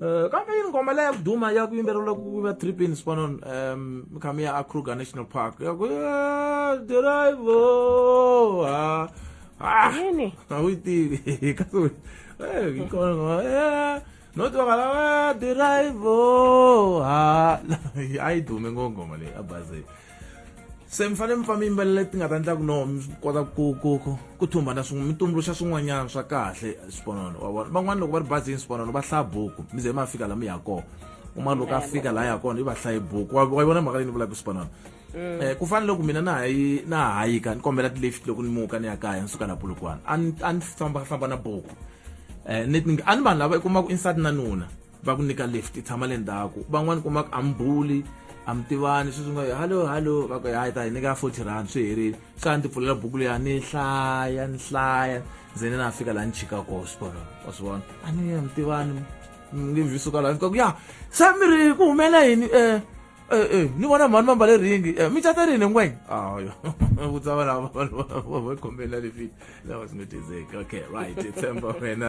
Uh, kambe yi nghoma leya ku duma ya ku yimbeleriwa ku va three pins pano um khamu ya akruger national park ya ku drivo ha ah, yini a wu yi tivi kasi u eh, yi kona nghoma eh, no twakala wa drivo ha a yi dume ngo nghoma leyi a bazeni se mi fanele mi fa mi yimbelela leti nga ta endlaku no mi kota ku ku ku ku thumbana swin'we mi tumbuluxa swin'wanyana swa kahle swiponono wa vona van'wana loko va ri bazini swiponono va hlaya buku mi ze ma fika la mi ya kona uma loko a fika la ya kona i va hlaye buku wa yi vona mhaka leyi ni vulaka swiponono um eh, ku fana loko mina na hayi na hayika ni kombela ti-lift loko ni muka ni ya kaya ni suka la polokwana a ni fambafamba na buku um eh, a ni vanhu lava i kuma ku insati na nuna va ku nyika lift tshama le ndzhaku van'wani kuma ku ambuli a mi tivani sweswi nga hallo hallo va ku hayi ta hi nyika forty rand swi herile se a ndzi pfulela buku leya ni hlaya ni hlaya ndze ni na fika laha ni chika koho switolo wa swi vona a ni ya mi tivani nge vhi suka laha fika ku ya se mi ri ku humela yini um ni vona mhani va mbale ringi mi cata rini ngwenya ayo vutsa va lava va kombela lifit lava swi nga tizeki okay right tshemba wena